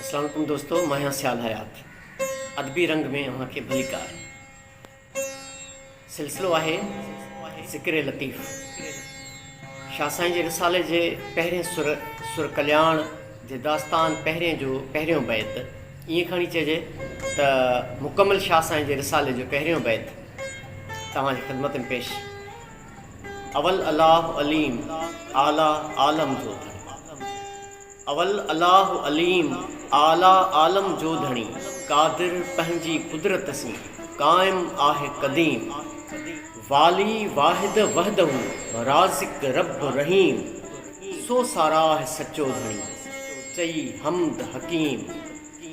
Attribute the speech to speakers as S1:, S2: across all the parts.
S1: اسلام عليڪم دوستو مان آهيان سيال حيات ادبي رنگ ۾ اوهان کي ڀليڪار سلسلو آهي ذڪر لطيف شاهه سائين جي رسالي جي پهرين سر سر ڪلياڻ جي داستان پهرين جو پهريون بيت ائين کڻي چئجي ته مڪمل شاهه سائين جي رسالي جو پهريون بيت توهان جي خدمت ۾ پيش، اول الله عليم اعليٰ عالم جو ڌڻي اول الله عليم اعليٰ عالم جو ڌڻي قادر پنهنجي قدرت سين قائم آهي قديم والي واحد وحده رازق رب رحيم سو ساراهه سچو ڌڻي، چئي حمد حڪيم،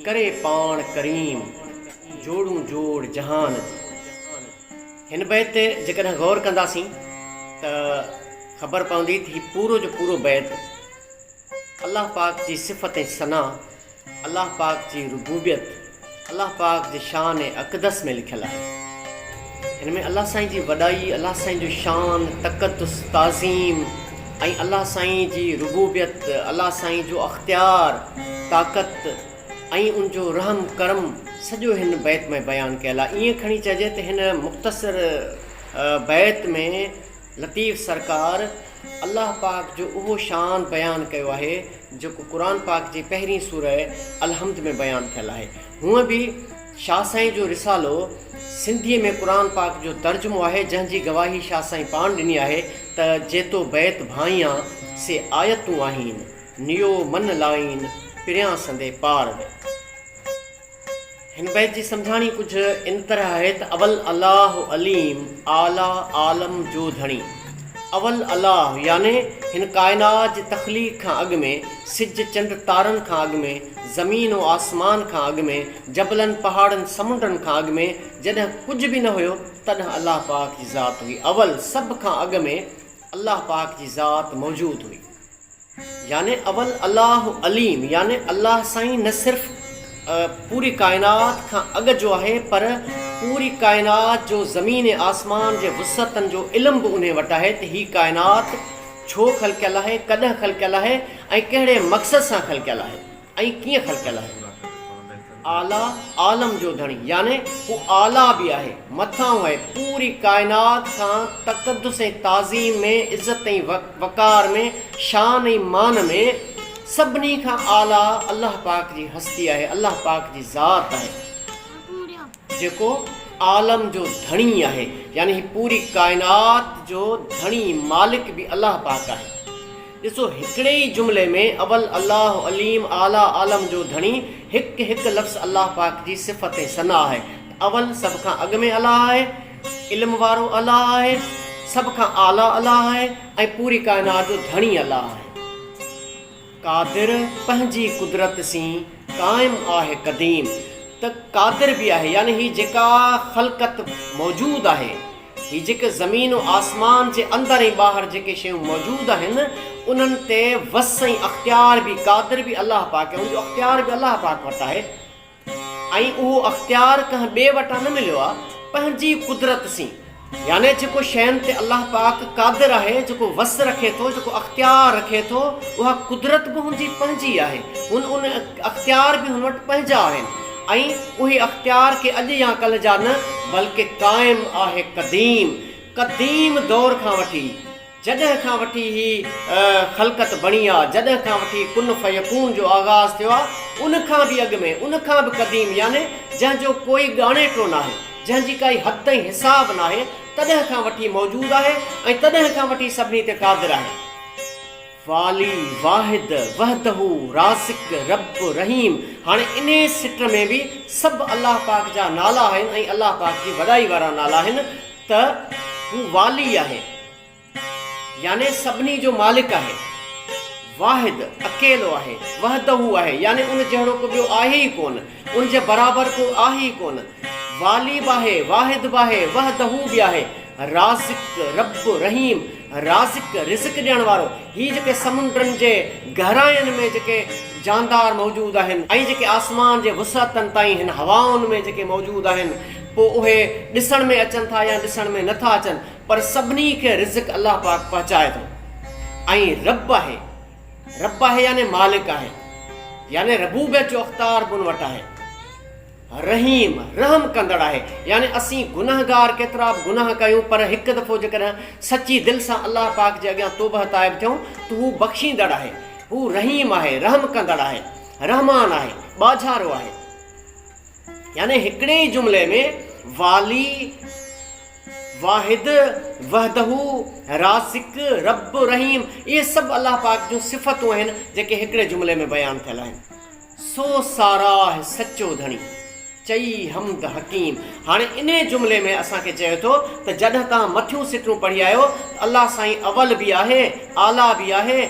S1: ڪري پاڻ ڪريم، جوڙون جوڙ جهان جي. هن بيت تي جيڪڏهن غور ڪنداسين ته خبر پوندي ته هي پورو جو پورو بيت الله پاڪ جي صفت ۽ ثنا الله پاڪ جي ربوبيت الله پاڪ جي شان اقدس ۾ لکيل آهي. هن ۾ الله سائين جي وڏائي، الله سائين جو شان، تقدس، تعظيم ۽ الله سائين جي ربوبيت، الله سائين جو اختيار، طاقت ۽ ان جو رحم ڪرم سڄو هن بيت ۾ بيان ڪيل آهي. ائين کڻي چئجي ته هن مختصر بيت ۾ لطيف سرڪار الله پاڪ جو اهو شان بيان ڪيو آهي جيڪو قرآن پاڪ جي پهرين سورة الحمد ۾ بيان ٿيل آهي. هونء به شاهه سائين جو رسالو سنڌيء ۾ قرآن پاڪ جو ترجمو آهي جنهن جي گواهي شاهه سائين پاڻ ڏني آهي ته جيتو بيت ڀانئيان سي آيتون آهين نيو من لائين پريان سندي پار ۾. هن بيت جي سمجهاڻي ڪجهه ان طرح آهي ته اول الله عليم اعليٰ عالم جو ڌڻي اول الله يعني هن ڪائنات جي تخليق کان اڳ ۾ سج چنڊ تارن کان اڳ ۾ زمين و آسمان کان اڳ ۾ جبلن پهاڙن سمنڊن کان اڳ ۾ جڏهن ڪجهه به نه هيو تڏهن الله پاڪ جي ذات هئي اول سڀ کان اڳ ۾ الله پاڪ جي ذات موجود هئي يعني اول الله عليم يعني الله سائين نه صرف پوري ڪائنات کان اڳ جو آهي پر پوري ڪائنات جو زمين ۽ آسمان جي وسعتن جو علم به انهي وٽ آهي ته هي ڪائنات ڇو خلقيل آهي ڪڏهن خلقيل آهي ۽ ڪهڙي مقصد سان خلقيل آهي. ۽ ڪيئن خلقيل آهي. اعليٰ عالم جو ڌڻي يعني هو اعليٰ به آهي، مٿانهون آهي، پوري ڪائنات کان تقدس ۽ تعظيم ۾، عزت ۽ وقار ۾، شان ۽ مان ۾، سڀني کان اعليٰ الله پاڪ جي هستي آهي، الله پاڪ جي ذات آهي، جيڪو عالم جو ڌڻي آهي يعني هي پوري ڪائنات جو ڌڻي، مالڪ، به الله پاڪ آهي. ڏسو هڪڙي ئي جملي ۾ اول الله عليم اعليٰ عالم جو ڌڻي هڪ هڪ لفظ الله پاڪ جي صفت ۽ ثنا آهي ته اول سڀ کان اڳ ۾ الله آهي علم وارو الله آهي سڀ کان اعليٰ الله آهي ۽ پوري ڪائنات جو ڌڻي الله آهي قادر پنهنجي قدرت سين قائم آهي قديم ته قادر به آهي يعني هي جيڪا خلقت موجود آهي هي جيڪي زمين و آسمان جي اندر ۽ ٻاهر جيڪي شيون موجود آهن انهن تي وس ۽ اختيار به قادر به الله پاڪ آهي ان جو اختيار به الله پاڪ وٽ آهي ۽ اهو اختيار ڪنهن ٻئي وٽان نه مليو آهي پنهنجي قدرت سين يعني جيڪو شين تي الله پاڪ قادر آهي جيڪو وس رکي ٿو جيڪو اختيار رکي ٿو اها قدرت به هن جي پنهنجي آهي هن ان اختيار به هن وٽ پنهنجا آهن ۽ اهي اختيار ڪي اڄ يا ڪلهه جا نه بلڪه قائم آهي قديم قديم دور کان وٺي جڏهن کان وٺي هي خلقت بڻي آ جڏهن کان وٺي ڪن فيڪون جو آغاز ٿيو آ ان کان به اڳ ۾ ان کان به قديم يعني جنهن جو ڪوئي ڳاڻيٽو ناهي جنهن جي ڪائي حد ۽ حساب ناهي تڏهن کان وٺي موجود آهي ۽ تڏهن کان وٺي سڀني تي قادر آهي. والي، واحد، وحده، رازق، رب، رحيم هاڻي انهي سٽ ۾ به سڀ الله پاڪ جا نالا آهن ۽ الله پاڪ جي وڏائي وارا نالا آهن ته هو والي آهي يعني سڀني جو مالڪ آهي، واحد، اڪيلو آهي، وحده آهي يعني ان جهڙو ڪو ٻيو آهي ئي ڪونه، ان جي برابر ڪو آهي ئي ڪونه. والي به آهي، واحد به آهي، وحده به آهي، رازق، رب، رحيم، رازق، رزق ڏيڻ وارو، هي جيڪي سمنڊن جي گهراين ۾ جيڪي جاندار موجود آهن ۽ جيڪي آسمان جي وسعتن تائين هن هوائن ۾ جيڪي موجود آهن پوء اهي ڏسڻ ۾ اچن ٿا يا ڏسڻ ۾ نه ٿا اچن پر سڀني کي رزق الله پاڪ پهچائي ٿو ۽ رب آهي. رب آهي يعني مالڪ آهي يعني ربوبيت جو اختار به ان وٽ آهي رحيم رحم ڪندڙ آهي يعني اسين گناهگار ڪيترا به گناهه ڪيون پر هڪ دفعو جيڪڏهن سچي دل سان الله پاڪ جي اڳيان توبه تائب ٿيون ته هو بخشيندڙ آهي هو رحيم آهي رحم ڪندڙ آهي رحمان آهي ٻاجهارو آهي يعني هڪڙي ئي جملي ۾ والي، واحد، وحده، رازق، رب، رحيم اهي سڀ الله پاڪ جون صفتون آهن جيڪي هڪڙي جملي ۾ بيان ٿيل آهن. سو ساراهه سچو ڌڻي، چئي حمد حڪيم. هاڻي انهي جملي ۾ اسان کي چئي ٿو ته جڏهن توهان مٿيون سٽون پڙهي آيو ته الله سائين اول به آهي، اعليٰ به آهي،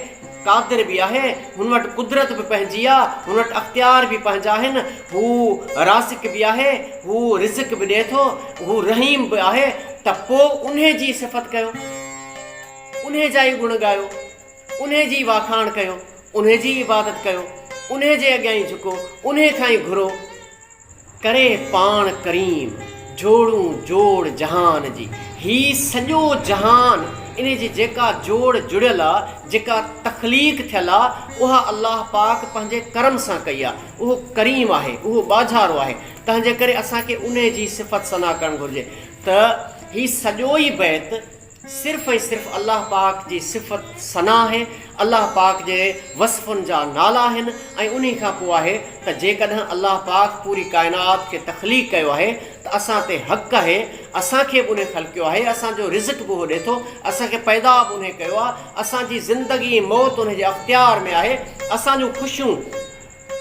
S1: قادر به آهي، هن وٽ قدرت به پنهنجي آ، هن وٽ اختيار به پنهنجا آهن، هو رازق به آهي، هو رزق به ڏئي ٿو، هو رحيم به آهي ته پوء انهي جي صفت ڪيو، انهي جا ئي گڻ ڳايو، انهي جي ئي واکاڻ ڪيو، انهي جي ئي عبادت ڪيو، انهي جي اڳيان ئي جهڪو، انهي کان ئي گهرو. ڪري پاڻ ڪريم، جوڙون جوڙ جهان جي. هي سڄو جهان ان جي جيڪا جوڙ جڙيل آ، جيڪا تخليق ٿيل آ، اها الله پاڪ پنهنجي ڪرم سان ڪئي آ. اهو ڪريم آهي، اهو ٻاجهارو آهي، تنهن جي ڪري اسان کي ان جي صفت ثنا ڪرڻ گهرجي ته هي سڄو ئي بيت، صرف ۽ صرف الله پاڪ جي صفت ثنا آهي، الله پاڪ جي وصفن جا نالا آهن ۽ انهي کان پوء آهي ته جيڪڏهن الله پاڪ پوري ڪائنات کي تخليق ڪيو آهي ته اسان تي حق آهي اسان کي به انهي خلقيو آهي اسان جو رزق به اهو ڏي ٿو اسان کي پيدا به انهي ڪيو آهي اسان جي زندگي ۽ موت انهي جي اختيار ۾ آهي اسان جون خوشيون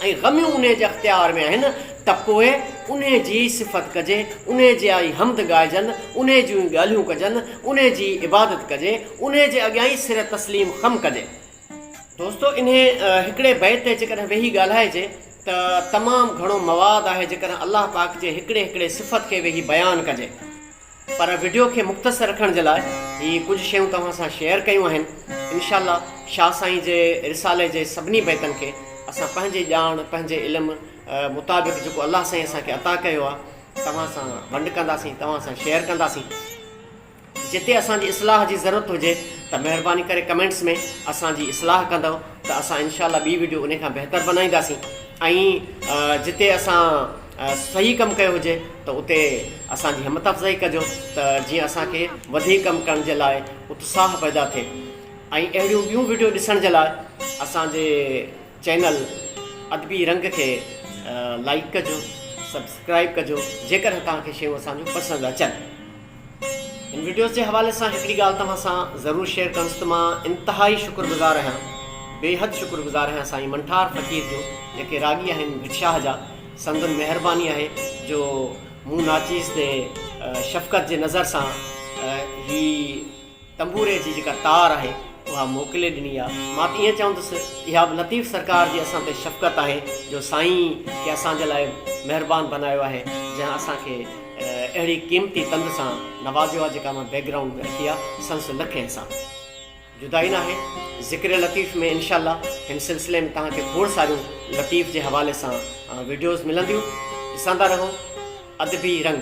S1: ۽ غميون انهيء جي اختيار ۾ آهن ته پوء انهيء جي ئي صفت ڪجي، انهيء جيا ئي حمد ڳائجن، انهيء جون ئي ڳالهيون ڪجن، انهيء جي ئي عبادت ڪجي، انهيء جي اڳيان ئي سر تسليم خم ڪجي. دوستو! انهيء هڪڙي بيت تي جيڪڏهن ويهي ڳالهائجي ته تمام گهڻو مواد آهي، جيڪڏهن الله پاڪ جي هڪڙي هڪڙي صفت کي ويهي بيان ڪجي. پر وڊيو کي مختصر رکڻ جي لاء هي ڪجهه شيون توهان سان شيئر ڪيون آهن. انشاء الله شاهه سائين جي رسالي جي سڀني بيتن کي اسان پنهنجي ڄاڻ پنهنجي علم مطابق جيڪو الله سائين اسان کي عطا ڪيو آهي توهان سان ونڊ ڪنداسين توهان سان شيئر ڪنداسين. جتي اسان جي اصلاح جي ضرورت هجي ته مهرباني ڪري ڪمينٽس ۾ اسان جي اصلاح ڪندؤ ته اسان انشاء الله ٻي وڊيو انهي کان بهتر بنائينداسين ۽ جتي اسان صحيح ڪم ڪيو هجي ته اتي اسان جي همت افزائي ڪجو ته جيئن اسان کي وڌيڪ ڪم ڪرڻ جي لاء اتساهه پيدا ٿئي ۽ اهڙيون ٻيون وڊيو ڏسڻ جي لاء اسان جي چينل ادبي رنگ کي لائيڪ ڪجو سبسڪرائيب ڪجو جيڪڏهن توهان کي شيون اسان جون پسند اچن هن وڊيوز جي حوالي سان هڪڙي ڳالهه توهان سان ضرور شيئر ڪنس ته مان انتهائي شڪر گذار آهيان بيحد شڪر گذار آهيان سائين منٺار فقير جو جيڪي راڳي آهن ڀٽ شاهه جا سندن مهرباني آهي جو مون ناچيز تي شفقت جي نظر سان هي تنبوري جي جيڪا تار آهي اها موڪلي ڏني آ. مان ته ائين چوندس اها به لطيف سرڪار جي اسان تي شفقت آهي جو سائين کي اسان جي لاء مهربان بنايو آهي جنهن اسان کي اهڙي قيمتي تند سان نوازيو آ جيڪا مان بيڪ گرائونڊ ۾ رکي آ سنس نه ڪنهن سان جدائي ناهي ذڪر لطيف ۾ انشاء الله هن سلسلي ۾ توهان کي کوڙ ساريون لطيف جي حوالي سان وڊيوز ملنديون ڏسندا رهو ادبي رنگ.